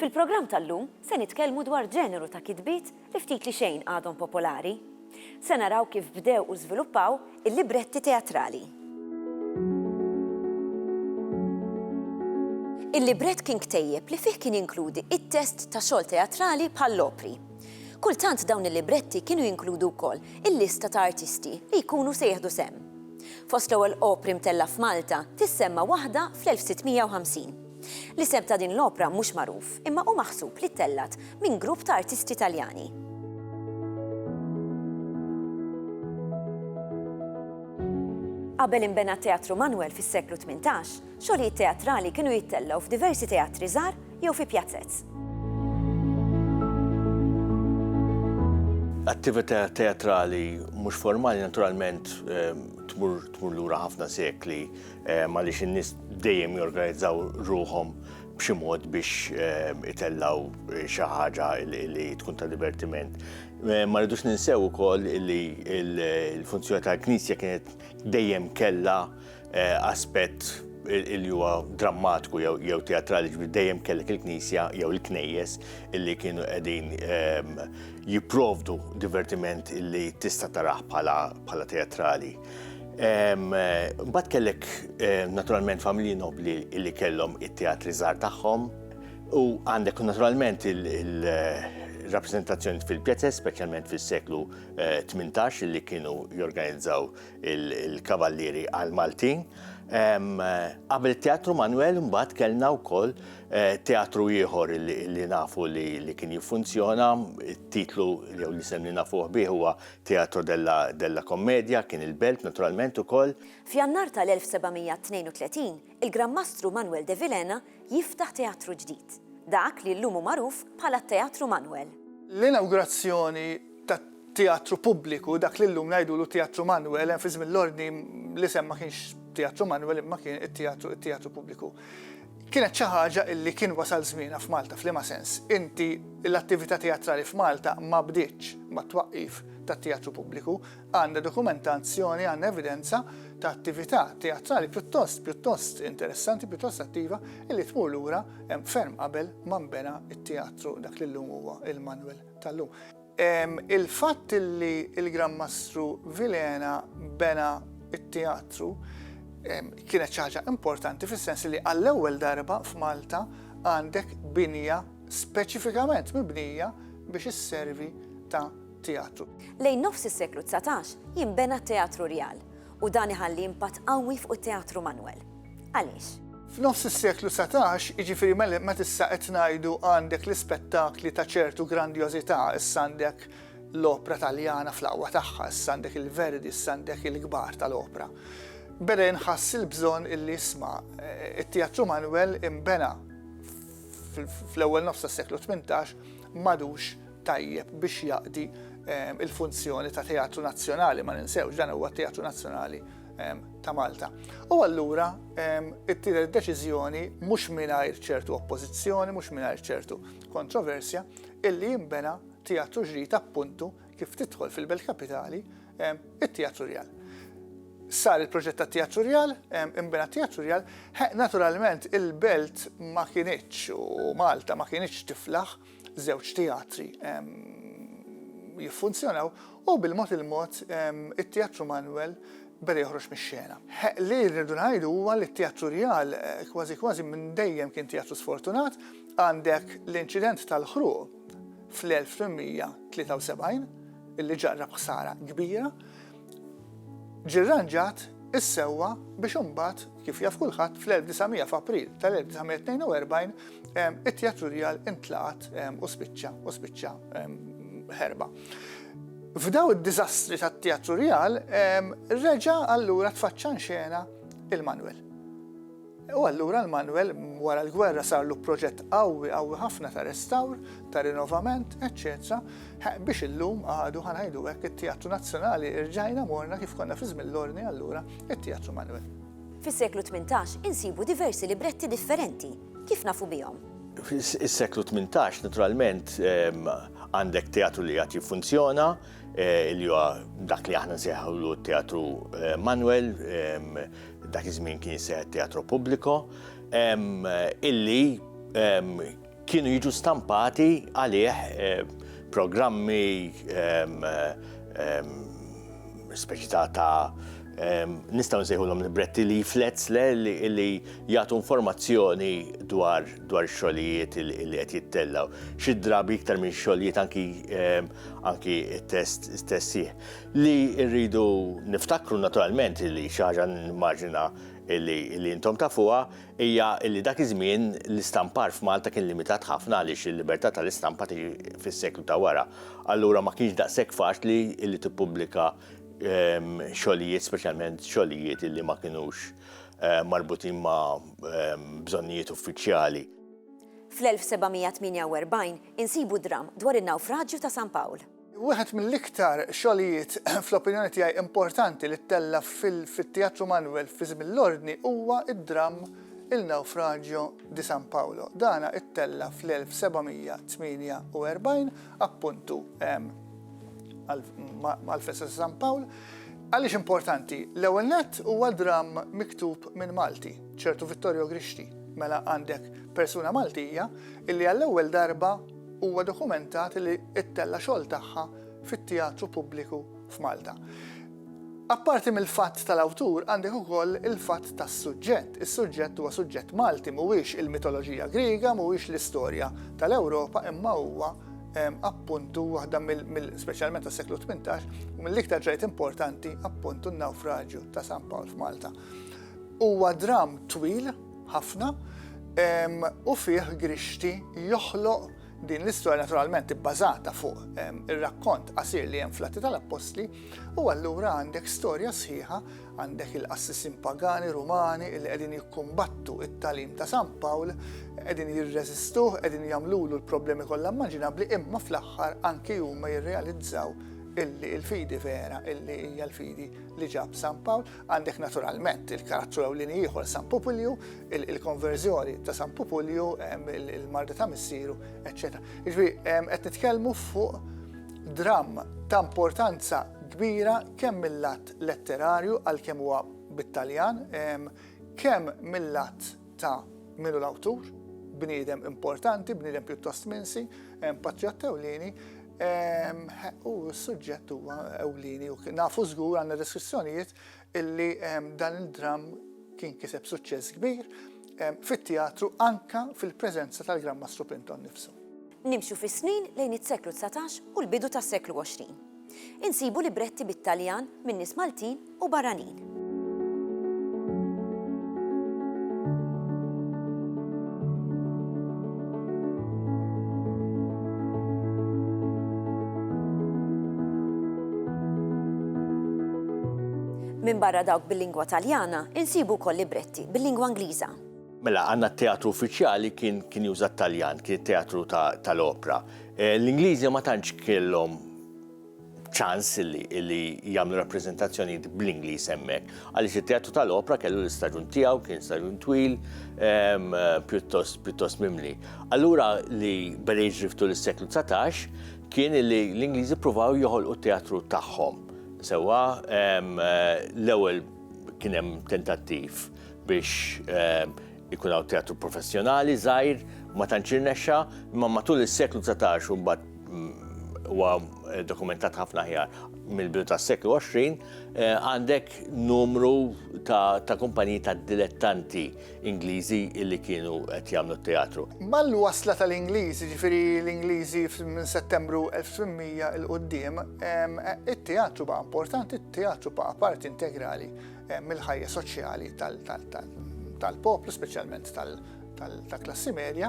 Fil-programm tal-lum se nitkellmu dwar ġeneru ta' kitbiet li ftit li xejn għadhom popolari. Se naraw kif bdew u żviluppaw il-libretti teatrali. Il-librett kien ktejjeb li fih kien jinkludi it-test ta' xogħol teatrali bħall-opri. Kultant dawn il-libretti kienu jinkludu wkoll il-lista ta' artisti li jkunu se jieħdu sehem. Fost l-ewwel opri mtellgħa f'Malta tissemma waħda fl-1650. L-isem ta' din l-opra mhux magħruf imma hu maħsub li ttellgħet minn grupp ta' artisti Taljani. Qabel inbena t-Teatru Manwel fis-seklu tmintax, Xogħlijiet teatrali kienu jittellgħu f'diversi teatri żgħar jew fi pjazez. Attività teatrali mhux formali naturalment tmur tmur lura ħafna sekli għaliex in-nies dejjem jorganizzaw ruħhom b'xi mod biex ehm, itellaw eh, xi ħaġa li tkun ta' divertiment. Eh, ma rridux ninsew ukoll li l-funzjoni tal-Knisja kienet dejjem kella aspett li huwa drammatiku jew teatrali ġbir dejjem kellek il-knisja jew il-knejjes illi kienu qegħdin ehm, jipprovdu divertiment illi tista' taraħ bħala teatrali. Ehm, Bat kellek eh, naturalment familji nobli illi kellhom it-teatri żgħar tagħhom u għandek naturalment il- rappresentazzjoni fil-pjazez, specialment fil-seklu 18 eh, li kienu jorganizzaw il-Kavallieri għall-Maltin. Qabel it-Teatru Manwel imbagħad kellna wkoll teatru ieħor li nafu li kien jiffunzjona, it-titlu jew l-isem li nafuh bih huwa Teatro della Commedia, kien il-Belt naturalment ukoll. F'Jannar tal-1732, il-Gran Mastru Manwel de Vilhena jiftaħ teatru ġdid, dak li llum hu magħruf bħala t-Teatru Manwel. L-inawgurazzjoni tat-teatru pubbliku, dak li llum ngħidulu t-Teatru Manwel, hemm fi żmien l-Ordni l-isem ma kienx Teatru Manwel imma kien it-Teatru it-Teatru Pubbliku, kienet xi ħaġa illi kien wasal żmienha f'Malta. F'liema sens? Inti l-attività teatrali f'Malta ma bdietx mat-twaqqif tat-Teatru Pubbliku. Għandna dokumentazzjoni, għandna evidenza ta' attività teatrali pjuttost, pjuttost interessanti, pjuttost attiva, illi tmur lura ferm qabel ma nbena t-teatru dak li llum huwa il-Manuel tal-lum. Il-fatt illi il-Gran Mastru Vilhena bena t-teatru kienet xi ħaġa importanti fis-sens illi għall-ewwel darba f'Malta għandek binja speċifikament mibnija biex isservi ta' teatru. Lejn nofs is-seklu dsatax jinbena t-Teatru Rjal u dan iħalli impatt qawwi fuq it-Teatru Manwel. Għaliex? F'nofs is-seklu dsatax, jiġifieri meta issa qed ngħidu għandek l-ispettakli ta' ċertu grandjożità, issa għandek l-opra Taljana fl-aqwa tagħha, issa għandek il-Verdi, issa għandek il-kbar tal-opra, beda jinħass il-bżonn illi isma' t-Teatru Manwel inbena fl-ewwel nofs tas-seklu tmintax m'għadux tajjeb biex jaqdi il-funzjoni ta' Teatru Nazzjonali, ma ninsewx dan huwa Teatru Nazzjonali ta' Malta. U allura it-tielet deċiżjoni mhux mingħajr ċertu oppożizzjoni, mhux mingħajr ċertu kontroversja, illi jimbena teatru ġrid appuntu kif tidħol fil-Belt Kapitali it-Teatru Rjal. Sar il-proġett ta' Teatru Rjal, imbena Teatru Rjal, naturalment il-Belt ma kienieċ u Malta ma kienieċ tiflaħ żewġ teatri jiffunzjonaw u bil-mod il-mod it-Teatru Manuel beda joħroġ mix-xena. Li rridu ngħidu huwa li t-Teatru Rjal eh, kważi kważi minn dejjem kien teatru sfortunat għandek l-inċident tal-ħruq fl-1873 illi ġarrab ħsara kbira Ġie rranġat is-sewwa biex imbagħad, kif jaf kulħadd, fl-1900 f'April tal-1942 it-Teatru Rjal intlaqat u spiċċa u spiċċa ħerba. F'daw id-diżastri tat-Teatru Rjal reġa' allura tfaċċa nxena il-Manwel. U allura l-manwel wara l-gwerra sarlu proġett qawwi, qawwi ħafna ta' restawr, ta' rinovament, eċċetera, biex illum għadu, ħa ngħidu hekk, it-Teatru Nazzjonali rġajna morna kif konna fi żmien l-Ordni allura, it-Teatru Manwel. Fis-seklu tmintax insibu diversi libretti differenti. Kif nafu bihom? Fis-seklu tmintax, naturalment, għandek teatru li għad jiffunzjona, li huwa dak li aħna nsejħulu t-teatru Manuel, dak iż-żmien kien jisseħ teatru pubbliku, illi kienu jiġu stampati għalih programmi speċi ta' nistgħu nsejħulhom libretti leaflets li jagħtu informazzjoni dwar dwar xogħlijiet li qed jittellgħu, xi drabi iktar minn xogħlijiet anki ehm, anki test tessih. Li rridu niftakru naturalment li xi ħaġa nimmaġina li intom tafuha hija li dak iż-żmien l-istampar f'Malta kien limitat ħafna għaliex il-libertà tal-istampa tiġi fis-seklu ta' wara. Allura ma kienx daqshekk faċli li tippubblika ehm, xogħlijiet speċjalment xogħlijiet li ma kinux marbutin ma' bżonnijiet uffiċjali. Fl-1748 insibu dramm dwar in-nawfraġju ta' San Pawl. Wieħed mill-iktar xogħlijiet fl-opinjoni tiegħi importanti li ttella' fit-Teatru Manuel fi żmien l-Ordni huwa d-dramm Il Naufragio di San Paolo. Dan ittella' fl-1748 appuntu għall-festa ta' San Pawl. Għaliex importanti? L-ewwel nett huwa dramm miktub minn Malti, ċertu Vittorio Grixti. Mela għandek persuna Maltija illi għall-ewwel darba huwa dokumentat li ttella' xogħol tagħha fit-teatru pubbliku f'Malta. Apparti mill-fatt tal-awtur għandek ukoll il-fatt tas-suġġett. Is-suġġett huwa suġġett Malti mhuwiex il-mitoloġija Griega, mhuwiex l-istorja tal-Ewropa imma huwa appuntu waħda mill-speċjalment tas-seklu 18 u mill-iktar ġrajt importanti appuntu n-nawfraġju ta' San Pawl f'Malta. Huwa dram twil ħafna u fih grixti joħloq din l-istorja naturalment ibbażata fuq ir-rakkont qasir li hemm fl-Atti tal-Appostli u allura għandek storja sħiħa Għandek il-qassisin pagani Rumani li qegħdin jikkumbattu it-talim ta' San Pawl, qegħdin jirreżistuh, qegħdin jagħmlulu l-problemi kollha immaġinabbli imma fl-aħħar anki huma jirrealizzaw illi il-fidi vera, illi hija l-fidi li ġab San Pawl, għandek naturalment il-karattru ewlieni ieħor San Pupulju, il-konverżjoni ta' San Pupulju, il-marda ta' missieru, eċċetera. Iġbi, qed nitkellmu fuq dramm ta' importanza kbira kemm mill-lat letterarju għalkemm huwa bit-Taljan, kemm mill-lat ta' min hu l-awtur, bniedem importanti, bniedem pjuttost minsi, patriott ewlieni, u s-suġġett huwa ewlieni u nafu żgur għandna deskrizzjonijiet illi dan il-dramm kien kiseb suċċess kbir fit-teatru anka fil-preżenza tal-Gran Mastru Plinton nifsu. Nimxu fis-snin lejn is-seklu 19 u l-bidu tas-seklu 20. Insibu libretti bit-Taljan minn nies Maltin u barranin. Minbarra dawk bil-lingwa Taljana, insibu wkoll libretti bil-lingwa Ingliża. Mela, għandna t-teatru uffiċjali kien juża t-Taljan, kien it-teatru tal-opra. L-Ingliżi ma tantx kellhom ċans li li jagħmlu rappreżentazzjonijiet bl-Ingliż hemmhekk. Għaliex it-Teatru tal-Opra kellu l-istaġun tiegħu, kien staġun twil, ehm, pjuttost pjuttost mimli. Allura li beda jiġriftu l-seklu 19 kien li l-Ingliżi provaw joħolqu t-teatru tagħhom. Sewwa ehm, l-ewwel kien hemm tentattiv biex ehm, Ikun hawn teatru professjonali żgħir, ma tantx irnexxa, imma matul is-seklu dsatax u mbagħad mm, huwa eh, dokumentat ħafna ħjar mill-bidu tas-seklu 20, eh, għandek numru ta', ta kumpaniji ta' dilettanti Ingliżi illi kienu qed jagħmlu teatru. Mal-wasla tal-Ingliżi, ġifieri l-Ingliżi minn Settembru 1800 il-qudiem, eh, it-teatru ba' importanti, it-teatru ba' parti integrali mill-ħajja soċjali tal-poplu, speċjalment tal-klassi medja,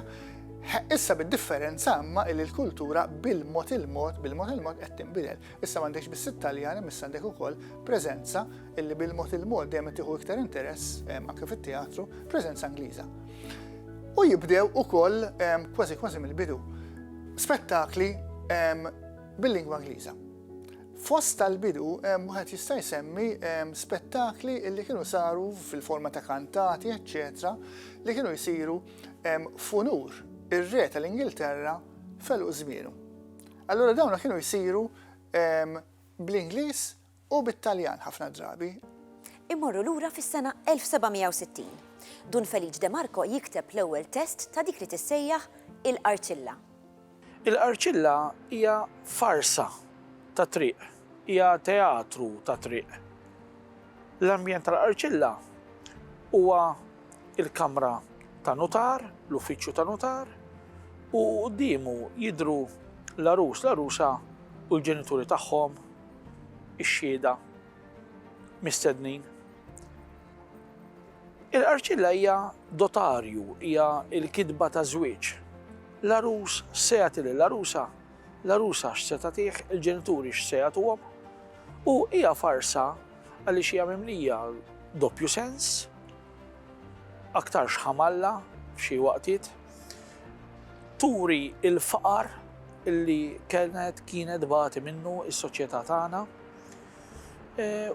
Issa bid-differenza imma li l-kultura bil-mod il-mod, bil-mod il-mod qed tinbidel. Issa m'għandekx biss it-Taljani, issa għandek ukoll preżenza illi bil-mod il-mod dejjem tieħu iktar interess anke fit-teatru, preżenza Ingliża. U jibdew ukoll kważi kważi mill-bidu spettakli bil-lingwa Ingliża. Fost tal-bidu, wieħed jista' jsemmi spettakli li kienu saru fil-forma ta' kantati, eċċetera, li kienu jsiru f'unur ir-re tal-Ingilterra f'għeluq żmienu. Allura dawna kienu jsiru bl-Ingliż u bit-Taljan ħafna drabi. Immorru lura fis-sena 1760. Dun Feliċ De Marco jikteb l-ewwel test ta' dik li tissejjaħ il-qarċilla. Il-qarċilla hija farsa tat-triq, hija teatru tat-triq. L-ambjent tal-qarċilla huwa l-kamra ta' nutar, l-uffiċċju ta' nutar, u quddiemu jidhru l-għarus, l-għarusa u l-ġenituri tagħhom, ix-xhieda mistednin. Il-qarċilla hija dotarju, hija l-kitba ta' żwieġ. L-għarus x'se jagħti lill-għarusa, l-għarusa x'se tagħtih, il-ġenituri x'se jagħtuhom. U hija farsa għaliex hija mimlija doppju sens, aktarx ħamalla f'xi waqtiet. Turi l-faqar li kienet kienet tbati minnu s-soċjetà tagħna.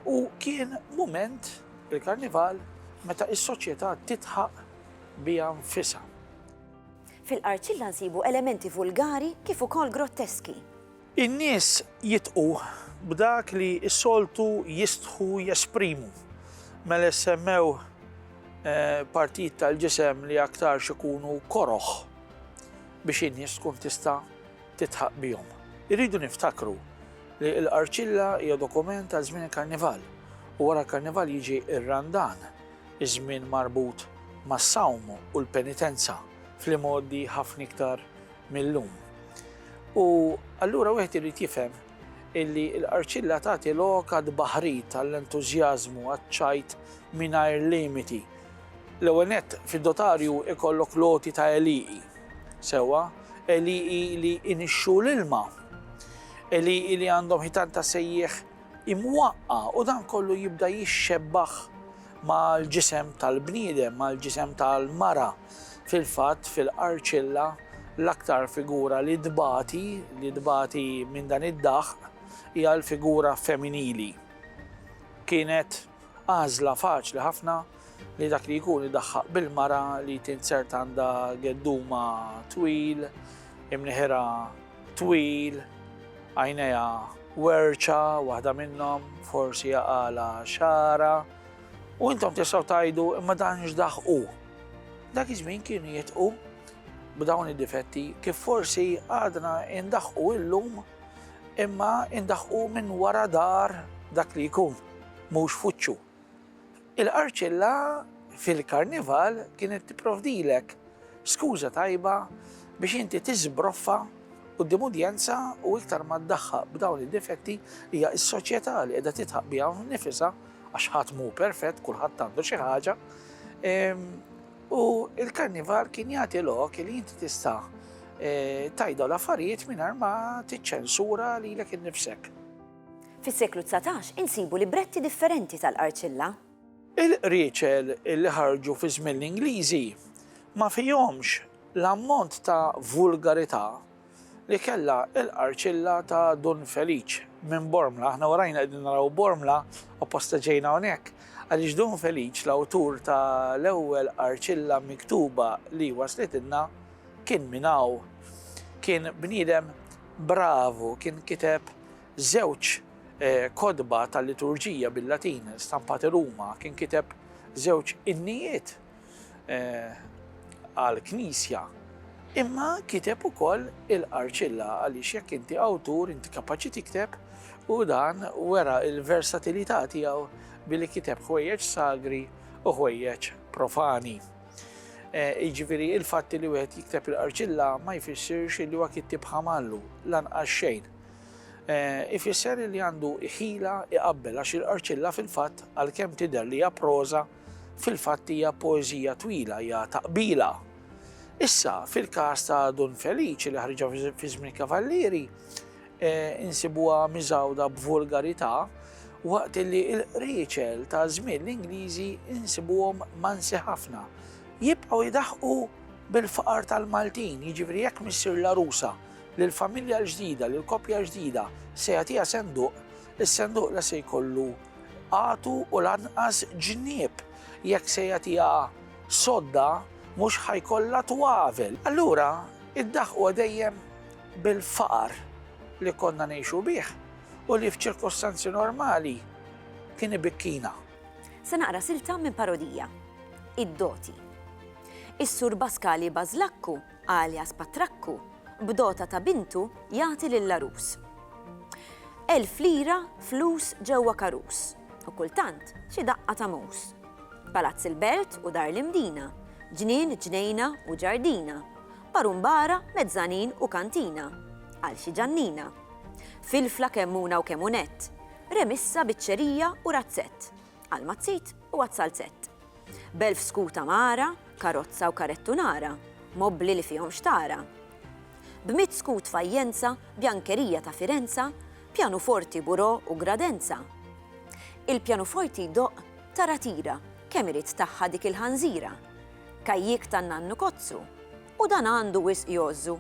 u kien mument, il-Karnival, meta s-soċjetà tidħaq biha nfisha. Fil-qarċilla nsibu elementi vulgari kif ukoll grotteski. In-nies jidħqu b'dak li s-soltu jistħu jesprimu, mela jsemmew partijiet tal-ġisem li aktarx ikunu koroh biex in-nies tkun tista' tidħaq bihom. Irridu niftakru li l-Qarċilla hija dokument għal żmien il-Karnival u wara l-Karnival jiġi r-Randan, iż-żmien marbut mas-sawm u l-penitenza fl-imgħoddi ħafna iktar mil-lum. U allura wieħed irid jifhem illi l-Qarċilla tagħti lok għad baħrit għall-entużjażmu għaċ-ċajt mingħajr limiti. L-ewwel nett fid-dotarju ikollok loti ta' eliqi Sewwa, għelieqi li inixxu l-ilma, għelieqi li għandhom ħitan ta' sejjieħ imwaqqa' u dan kollu jibda jixxebbaħ mal-ġisem tal-bniedem, mal-ġisem tal-mara. Fil-fatt, fil-qarċilla, l-aktar figura li tbati, li tbati minn dan id-daħq, hija l-figura femminili. Kienet għażla faċli ħafna li dak li jkun idaħħaq bil-mara li tinsert għandha gedduma twil, imnieħerha twil, għajnejha werċa waħda minnhom, forsi għaqalha xara, u intom tistgħu tgħidu imma dan x'daħqu. Dak iż-żmien kienu jitqu b'dawn id-difetti kif forsi għadna indaħqu illum imma indaħqu minn wara dar dak li jkun, mhux fuċċu. Il-qarċilla fil-Karnival kienet tipprovdilek skuża tajba biex inti tiżbroffa quddiem udjenza u iktar ma ddaħħaq b'dawn id-difetti hija s-soċjetà li qiegħda tidħaq biha nnifisha għax ħadd mhu perfett kulħadd għandu xi ħaġa. Ehm, u il-Karnival kien jagħti lok li inti tista' eh, tajda l-affarijiet mingħajr ma tiċċensura lilek innifsek. Fis-seklu dsatax insibu libretti differenti tal-Qarċilla. Il-qrieċel li ħarġu fi żmien l-Ingliżi ma fihomx l-ammont ta' vulgarità li kellha l-Qarċilla ta' Dun Feliċ minn Bormla. Aħna warajna qegħdin naraw Bormla, apposta ġejna hawnhekk, għaliex Dun Feliċ l-awtur ta' l-ewwel Qarċilla miktuba li waslitilna kien minn hawn. Kien bniedem bravu, kien kiteb żewġ kotba tal-liturġija bil-Latin stampati Ruma, kien kiteb żewġ innijiet għall-Knisja, imma kiteb ukoll il-Qarċilla għaliex jekk inti awtur inti kapaċi tikteb u dan wera l-versatilità tiegħu billi kiteb ħwejjeġ sagri u ħwejjeġ profani. Jiġifieri il-fatt li wieħed jikteb il-qarċilla ma jfissirx li huwa kittib ħamallu lanqas xejn. Ifisser li għandu ħila iqabbel għax il-qarċilla fil-fatt għalkemm tidher li hija proża fil-fatt hija poeżija twila hija taqbila. Issa, fil-każ ta' Dun Feliċi li ħriġa fi żmien Kavallieri, insibuha miżgħuda b'volgarità, waqt li l-qrieċel ta' żmien l-Ingliżi nsibuhom mansi ħafna. Jibqgħu jdaħħqu bil-faqar tal-Maltin, jiġifieri jekk missier l-għarusa lill-familja l-ġdida, lill-koppja ġdida, se jagħtiha senduq, is-senduq la se jkollu għatu u lanqas ġnieb, jekk se jagħtiha sodda mhux ħa jkollha twavel. Allura, iddaħħquha dejjem bil-faqar li konna ngħixu bih u li f'ċirkostanzi normali kien ibikkina. Se naqra silta minn parodija, Id-Doti. Is-Sur Baskali Bażlakku, alias Patrakku, b'dota ta' bintu jagħti lill-għarus. Elf lira flus ġewwa karus u kultant xi daqqa ta' mus. Palazz il-Belt u Dar l-Imdina, ġnien, ġnejna u ġardina, Barumbara, mezzanine u kantina. Għal xi ġannina. Filfla kemm una u kemm unett. Remissa, biċċerija u razzett. Għal mazzit u għas-salzett. B'elf skut amara, karozza u karettu nara. Mobbli li fihom xtara. B'mitt skut fajjenza, bjankerija ta' Firenza, pjanuforti, burò u gradenza. Il-pjanuforti jdoqq, tara tira, kemm irid tagħha dik il-ħanżira. Kajjik ta' Nannu Kozzu, u dan għandu wisq jgħożżu,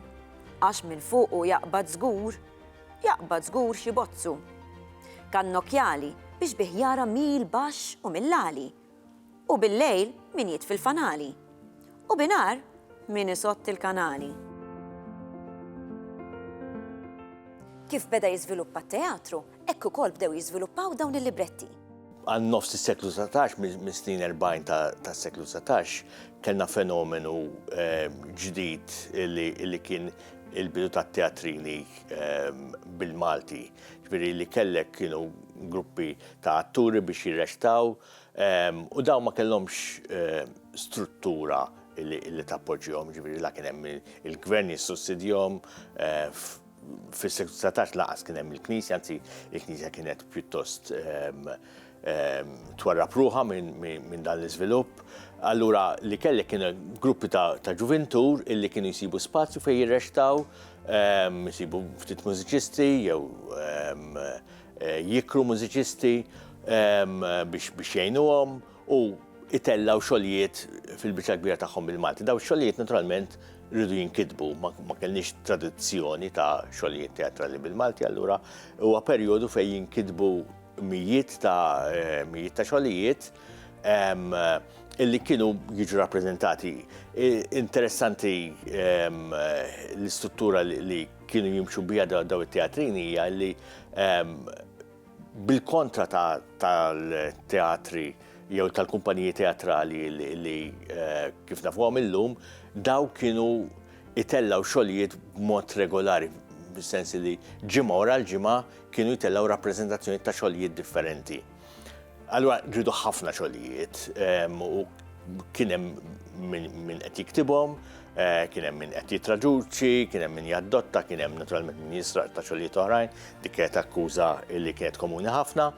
għax minn fuqu jaqbad żgur, jaqbad żgur xi bozzu. Kannokjali biex bih jara mill-baxx u mill-għali, u billejl min jitfi l-fanali, u binhar min isotti l-kanali. Kif beda jiżviluppa t-teatru, hekk ukoll bdew jiżviluppaw dawn il-libretti. Għal nofs is-seklu 19, mis-snin 40 tas-seklu 19, kellna fenomenu ehm, ġdid li kien il-bidu ta' teatrini ehm, bil-Malti. Ġviri li kellek kienu gruppi ta' atturi biex jirrestaw ehm, u daw ma kellhomx struttura li tappoġġihom, ġviri la kien hemm il-gvern jissussidjhom eh, Fis-seklu 19 laqas kien hemm il-Knisja, anzi il-Knisja kienet pjuttost ehm, ehm, twarra pruħa minn dan l-iżvilupp. Allura li kellek kien gruppi ta' ġuvintur illi kienu jsibu spazju fejn jirrextaw, ehm, jsibu ftit mużiċisti jew eh, jikru mużiċisti biex jgħinuhom. u itellgħu xogħlijiet fil-biċċa l-kbira tagħhom bil-Malti. Dawn ix-xogħlijiet naturalment rridu jinkitbu, ma kellniex tradizzjoni ta' xogħlijiet teatrali bil-Malti, allura huwa perjodu fejn jinkitbu mijiet ta' eh, mijiet ta' xogħlijiet illi kienu jiġu rappresentati. Interessanti l-istruttura li kienu jimxu bija daw it-teatrini hija li Bil-kontra tal-teatri jew tal-kumpaniji teatrali li kif nafuhom illum, dawk kienu itellgħu xogħlijiet b'mod regolari, bis-sens li ġimgħa wara l-ġimgħa kienu jtellgħu rappreżentazzjonijiet ta' xogħlijiet differenti. Allura ġridu ħafna xogħlijiet u kien hemm min qed jiktibhom, eh, kien hemm min qed jitraduċi, kien hemm min jaddotta, kien hemm naturalment min jisraq ta' xogħlijiet oħrajn, dik kienet akkuża li kienet komuni ħafna.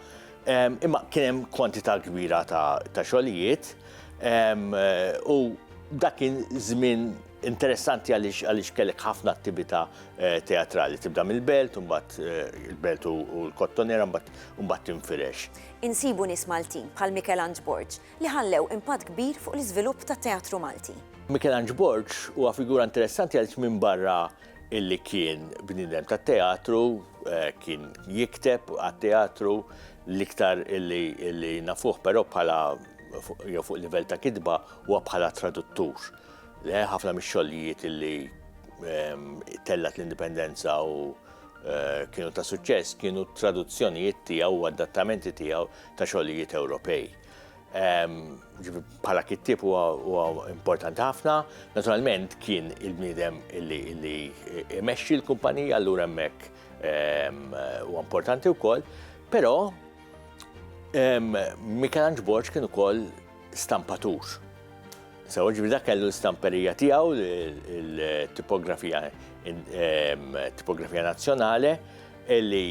Imma kien hemm kwantità kbira ta' xogħlijiet eh, u dak kien żmien Interessanti għaliex kellek ħafna attività teatrali. Tibda mill-belt, mbagħad il-belt u l-kottonera, mbagħad tinfirex. Insibu nies Maltin bħal Mikelanġ Borg li ħallew impatt kbir fuq l-iżvilupp tat-teatru Malti. Mikelanġ Borg huwa figura interessanti għaliex minbarra illi kien bniedem tat-teatru, kien jikteb għat-teatru, l-iktar illi nafuh però bħala jew fuq livell ta' kitba huwa bħala traduttur. Le, ħafna mix-xogħlijiet li ehm, tellat l-indipendenza u eh, kienu ta' suċċess kienu traduzzjonijiet tiegħu u adattamenti tiegħu ta' xogħlijiet Ewropej. Ehm, bħala kittib huwa importanti ħafna, naturalment kien il-bniedem li imexxi l-kumpanija allura hemmhekk ehm, huwa importanti wkoll, però Michelangelo Borg kien ukoll stampatur. Sewa ġifieri dak kellu l-istamperija tiegħu, il-tipografija tipografija nazzjonali, li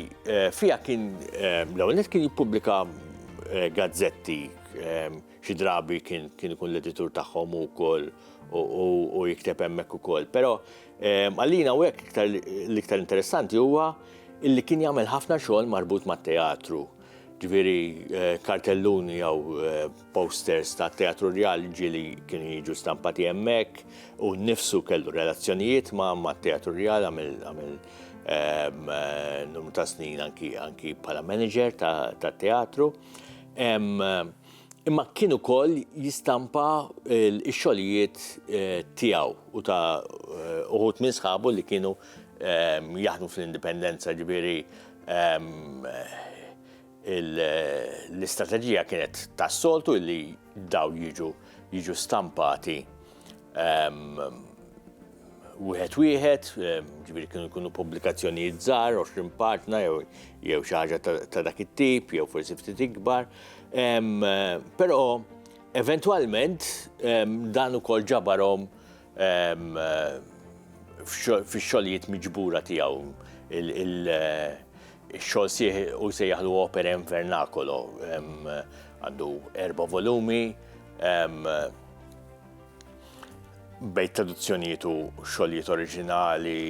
fiha kien l-ewwel nett kien jippubblika gazzetti xi drabi kien ikun l-editur tagħhom hu wkoll u jikteb hemmhekk ukoll. Però għalina hawnhekk l-iktar interessanti huwa li kien jagħmel ħafna xogħol marbut mat-teatru. ġifieri kartelluni jew posters tat-Teatru Rjali ġieli kienu jiġu stampati hemmhekk, hu nnifsu kellu relazzjonijiet mat-Teatru Rjali, għamel numru ta' snin anki bħala manager tat-teatru. Imma kien ukoll jistampa x-xogħlijiet tiegħu u ta' uħud minn sħabu li kienu jaħdmu fl-Indipendenza, ġifieri L-istrateġija kienet tas-soltu li daw jiġu jiġu stampati wieħed wieħed, ġifieri kienu jkunu pubblikazzjonijiet żgħar, 20 partna jew xi ħaġa ta' dak it-tip jew forsi ftit ikbar. Però eventwalment dan ukoll ġabarhom fix-xogħlijiet miġbura tiegħu il-xogħol sħiħ hu jsejjaħlu Opere in Vernacolo. Għandu erba' volumi bejn traduzzjonijiet u xogħlijiet oriġinali,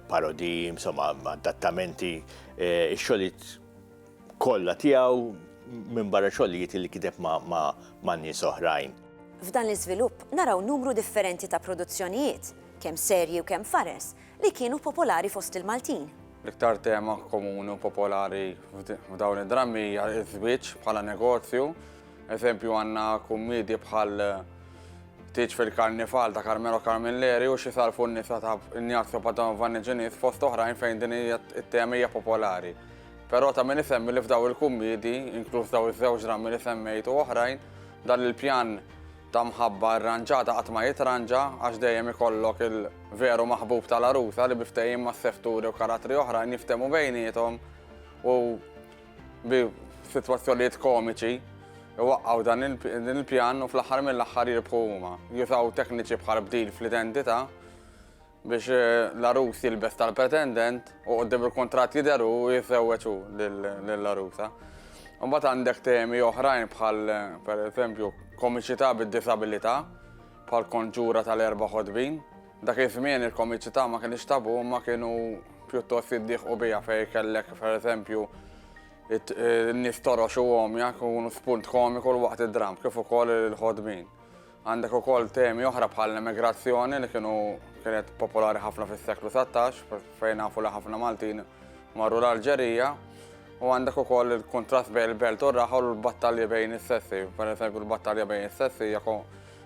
parodiji, insomma, adattamenti, ix-xogħlijiet kollha tiegħu minbarra xogħlijiet li kiteb ma' nies oħrajn. F'dan l-iżvilupp naraw numru differenti ta' produzzjonijiet, kemm serji u kemm fares, li kienu popolari fost il-Maltin. L-iktar tema komuni u popolari f'dawn id-drammi hija ż-żwieġ bħala negozju. Eżempju għandna kummiedji bħal Tieġ fil-Karnival ta' Carmelo Carmilleri u Xi Sarfu n-Nisa ta' Ignazio Padova Niġiniż fost oħrajn fejn din it-tema hija popolari. Però ta' min isemmi li f'daw il-kummidi, inkluż daw iż-żewġ drammi li semmejt u oħrajn, dan il-pjan ta' mħabba irranġata qatt ma jitranġa għax dejjem ikollok il-veru maħbub tal-għarusa li bi ftehim ma' setturi u karattri oħrajn jiftehmu bejniethom u bi sitwazzjonijiet komiċi iwaqqgħu dan il-pjan u fl-aħħar mill-aħħar jirbħu huma. Jużaw tekniċi bħal bdil fl-identità biex l-għarus jilbes tal-pretendent u qoddim il-kuntratt jidher u jisewweġ hu lill-għarusa. Imbagħad għandek temi oħrajn bħal pereżempju komiċità bid-disabilità, bħal konġura tal-erba' ħodbin. Dak iż-żmien il-komiċità ma kienx tabu ma kienu pjuttost jiddieħqu biha fejn kellek pereżempju n-nies torox u għomja kunu spunt komiku l-waqt id-dram kif ukoll il-ħodbin. Għandek ukoll temi oħra bħall-emigrazzjoni li kienu kienet popolari ħafna fis-seklu 19 fejn nafu li ħafna Maltin marru l-Alġerija u għandek ukoll il-kuntrast bejn il-belt u r-raħa u l-battalji bejn is-sessi. Per eżempju l-battalja bejn is-sessi hija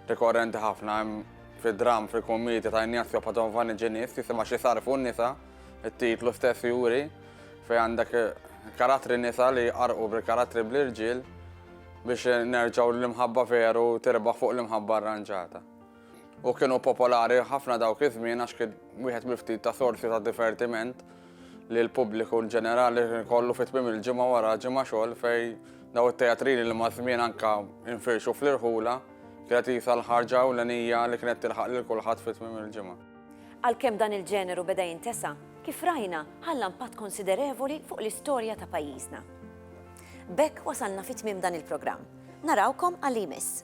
rikorrenti ħafna hemm fid-dram fil-kummedja ta' Ignazio Padovani Ġenis jisimha xi sarfu n-nisa, it-titlu stess juri fejn għandek karattri nisa li jqarqu bil-karattri bl-irġiel biex nerġgħu l-imħabba veru tirbaħ fuq l-imħabba arranġata. U kienu popolari ħafna dawk iż-żmien għax kien wieħed miftit ta' sorsi ta' divertiment li l-pubbliku ġenerali kollu fit tmim il-ġimgħa wara ġimgħa xogħol fej daw it-teatrini li ma' żmien anka infirxu fl-irħula kienet jisa l-ħarġa u l-enija li kienet tilħaq lil kulħadd fit tmim il-ġimgħa. Għalkemm dan il-ġeneru beda jintesa', kif rajna ħalla impatt konsiderevoli fuq l-istorja ta' pajjiżna. B'hekk wasalna fi tmiem dan il-programm. Narawkom għal li jmiss.